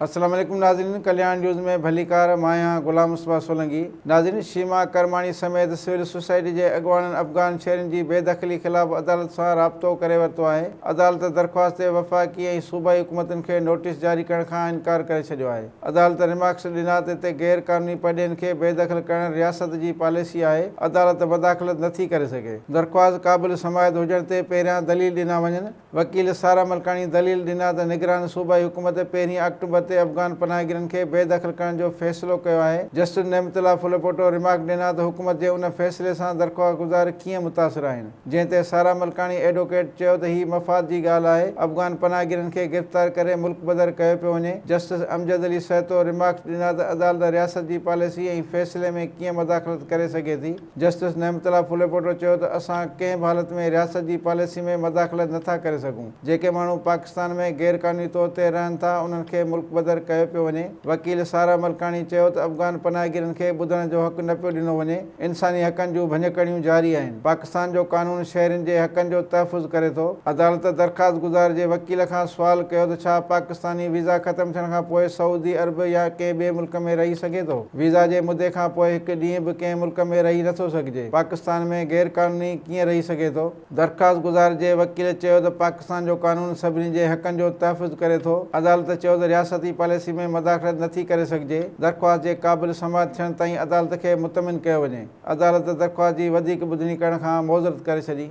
السلام عليڪم ناظرين ڪلياڻ نيوز ۾ ڀليڪار مان آهيان غلام مصباح سولنگي ناظرين شيما ڪرماڻي سميت سول سوسائٽي جي اڳواڻن افغان شهرين جي بي دخلي خلاف عدالت سان رابطو ڪري ورتو آهي عدالت درخواست تي وفاقي ۽ صوبائي حڪومتن کي نوٽيس جاري ڪرڻ کان انڪار ڪري ڇڏيو آهي عدالت رمارڪس ڏنا ته اتي غير قانوني پرڏيهين کي بي دخل ڪرڻ رياست جي پاليسي آهي عدالت مداخلت نٿي ڪري سگهي درخواست قابل سماعت هجڻ تي پهريان دليل ڏنا وڃن وڪيل سارا ملڪاڻي دليل ڏنا ته نگران صوبائي حڪومت پهرين آڪٽوبر تي افغان پناهگيرن کي بي دخل ڪرڻ جو فيصلو ڪيو آهي. جسٽس نعمت الله ڦلپوٽو رمارڪ ڏنا ته حڪومت جي ان فيصلي سان درخواهگذار ڪيئن متاثر آهن جنهن تي سارا ملڪاڻي ايڊووڪيٽ چيو ته هي مفاد جي ڳالهه آهي افغان پناهگيرن کي گرفتار ڪري ملڪ بدر ڪيو پيو وڃي جسٽس امجد علي سهتو رمارڪس ڏنا ته عدالت رياست جي پاليسي ۽ فيصلي ۾ ڪيئن مداخلت ڪري سگهي ٿي. جسٽس نعمت الله ڦليپوٽو چيو ته اسان ڪنهن به حالت ۾ رياست جي پاليسي ۾ مداخلت نه ٿا ڪري سگهون، جيڪي ماڻهو پاڪستان ۾ غير قانوني طور تي رهن ٿا انهن کي ملڪ بدر ڪيو پيو وڃي، وڪيل سارا ملڪاڻي چيو ته افغان پناهگيرن کي ٻڌڻ جو حق نه پيو ڏنو وڃي، انساني حقن جون ڀڃڪڙيون جاري آهن، پاڪستان جو قانون شهرين جي حقن جو تحفظ ڪري ٿو، عدالت درخواست گذار جي وڪيل کان سوال ڪيو ته ڇا پاڪستاني ويزا ختم ٿيڻ کان پوء سعودي عرب يا ڪنهن ٻئي ملڪ ۾ رهي سگهي ٿو؟ ويزا جي مدي کان پوء هڪ ڏينهن به ڪنهن ملڪ ۾ رهي نٿو سگهجي، پاڪستان ۾ غير قانوني ڪيئن رهي سگهي ٿو؟ درخواست گذار جي وڪيل چيو ته پاڪستان جو قانون سڀني جي حقن جو تحفظ ڪري ٿو، عدالت چيو ته رياستي پاليسي ۾ مداخلت نٿي ڪري سگهجي، درخواست جي قابل سماعت ٿيڻ تائين عدالت کي مطمئن ڪيو وڃي، عدالت درخواست جي وڌيڪ ٻڌڻي ڪرڻ کان معذرت ڪري ڇڏي.